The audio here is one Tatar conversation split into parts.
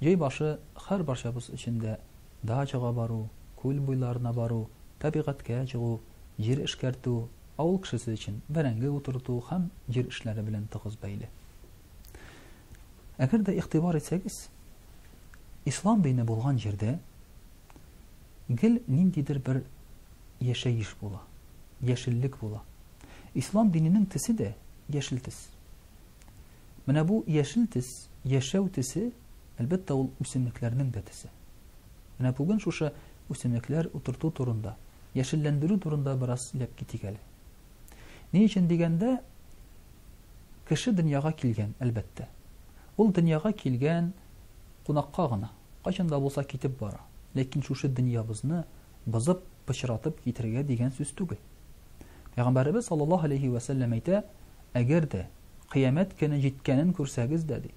Җәй башы һәрбарчабыз өчен дә дачага бару, күл буйларына бару, табигатькә чыгу, җир эшкәртү, авыл кешесе өчен бәрәңге утырту һәм җир эшләре белән тыгыз бәйле. Әгәр дә игътибар итсәгез, ислам дине булган җирдә гел ниндидер бер яшәеш була, яшеллек була. Ислам диненең төсе дә яшел төс. Менә бу яшел төс, яшәү төсе, әлбәттә, ул үсемлекләрнең дә төсе. Менә бүген шушы үсемлекләр утырту турында, яшелләндерү турында бераз сөйләп китик әле. Ни өчен дигәндә, кеше дөньяга килгән, әлбәттә. Ул дөньяга килгән кунакка гына, кайчан да булса китеп бара. Ләкин шушы дөньябызны бозып, пычратып китергә дигән сүз түгел. Пәйгамбәребез саллаллаһу алейхи вә сәлләм әйтә, әгәр дә Кыямәт көне җиткәнен күрсәгез дә, ди.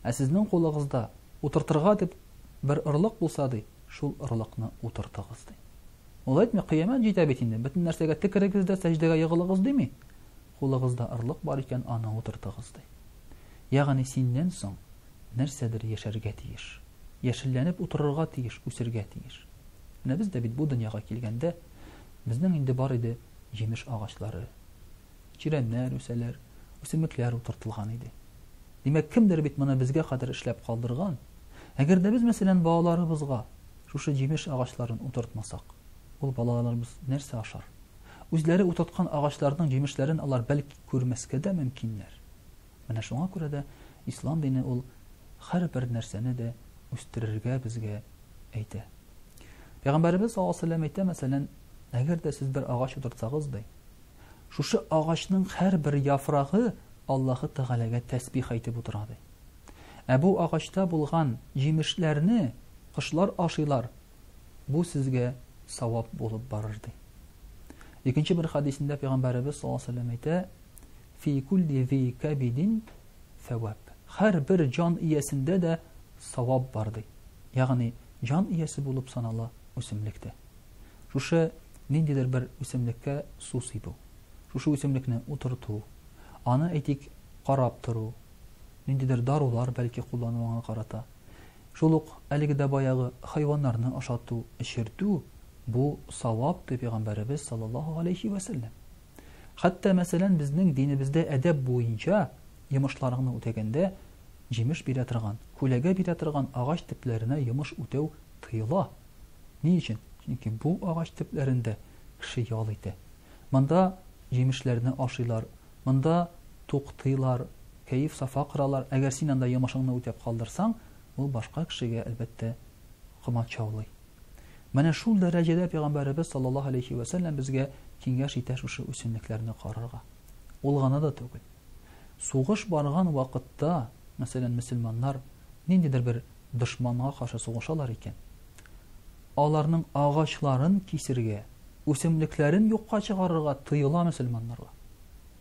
Ә сезнең кулыгызда утыртырга дип бер орлык булса, ди, шул орлыкны утыртыгыз, ди. Ул әйтми, кыямәт җитә бит инде, бөтен нәрсәгә текерегез дә сәҗдәгә егылыгыз дими. Кулыгызда орлык бар икән, аны утыртыгыз, ди. Ягъни синнән соң нәрсәдер яшәргә тиеш. Яшелләнеп утырырга тиеш, үсергә тиеш. Менә без дә бит бу дөньяга килгәндә, безнең инде бар иде җимеш агачлары, Чирәмнәр үсәләр, үсемлекләр утыртылган иде. Димәк, кемдер бит моны безгә кадәр эшләп калдырган. Әгәр дә без, мәсәлән, балаларыбызга шушы җимеш агачларын утыртмасак, ул балаларыбыз нәрсә ашар? Үзләре утырткан агачларның җимешләрен алар бәлки күрмәскә дә мөмкиннәр. Менә шуңа күрә дә ислам дине ул һәрбер нәрсәне дә үстерергә безгә әйтә. Пәйгамбәребез саллаллаһу алейһи ва сәлләм әйтә, мәсәлән, әгәр дә сез бер агач утыртсагыз, ди, Шушы агачның һәрбер яфрагы Аллаһы Тәгаләгә тәсбих әйтеп утыра, ди. Ә бу агачта булган җимешләрне кошлар ашыйлар, бу сезгә савап булып барыр, ди. Икенче бер хадисендә Пәйгамбәребез саллаллаһу алейһи ва әйтә, «Фи кулли зи кабидин сәвап». Һәрбер җан иясендә дә савап бар, ди. Ягъни, җан иясе булып санала үсемлектә. Шушы ниндидер бер үсемлеккә су сибү, шушы үсемлекне утырту, аны, әйтик, карап тору, ниндидер дарулар, бәлки, куллану аңа карата, шул ук әлеге дә баягы хайваннарны ашату, эчертү, бу савап, ди Пәйгамбәребез саллаллаһу галәйһи вә сәлләм. Хәтта, мәсәлән, безнең динебездә әдәп буенча йомышларыңны үтәгәндә җимеш бирә торган, күләгә бирә торган агач төпләренә йомыш үтәү тыела. Ни өчен? Чөнки бу агач төпләрендә кеше ял итә. Монда җимешләрне ашыйлар, монда туктыйлар, кәеф-сафа коралар. Әгәр син анда йомышыңны үтәп калдырсаң, ул башка кешегә, әлбәттә, комачаулый. Менә шул дәрәҗәдә пәйгамбәребез саллаллаһу алейхи вә сәлләм безгә киңәш итә шушы үсемлекләрне карарга. Ул гына да түгел. Сугыш барган вакытта, мәсәлән, мөселманнар ниндидер бер дошманга каршы сугышалар икән, аларның агачларын кисергә, үсемлекләрен юкка чыгарырга тыела мөселманнарга.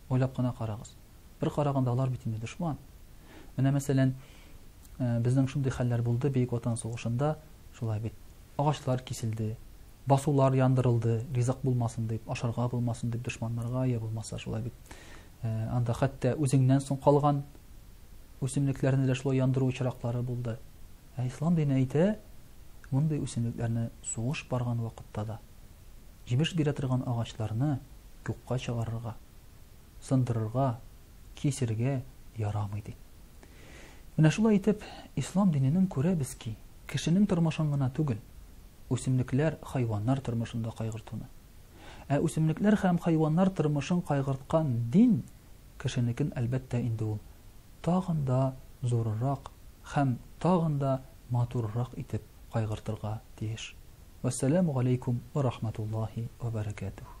Уйлап кына карагыз. Бер караганда алар бит инде дошман. Менә мәсәлән, э, безнең шундый хәлләр булды Бөек Ватан сугышында, шулай бит. Агачлар киселде, басулар яндырылды, ризык булмасын дип, ашарга булмасын дип дошманнарга, я булмаса шулай бит. Э, анда хәтта үзеңнән соң калган үсемлекләрне дә шулай яндыру очраклары булды. Ә ислам дине әйтә, мондый үсемлекләрне сугыш барган вакытта да җимеш бирә торган агачларны юкка чыгарырга, сындырырга, кисергә ярамый ди. Менә шулай итеп, ислам диненең күрәбез ки, кешенең тормышын гына түгел, үсемлекләр, хайваннар тормышында кайгыртуны. Ә үсемлекләр һәм хайваннар тормышын кайгырткан дин кешенекен әлбәттә инде ул тагын да зурырак һәм тагын да матурырак итеп кайгыртырга тиеш. Вәссәламү галәйкүм уә рахматуллаһи уә бәрәкәтүһ.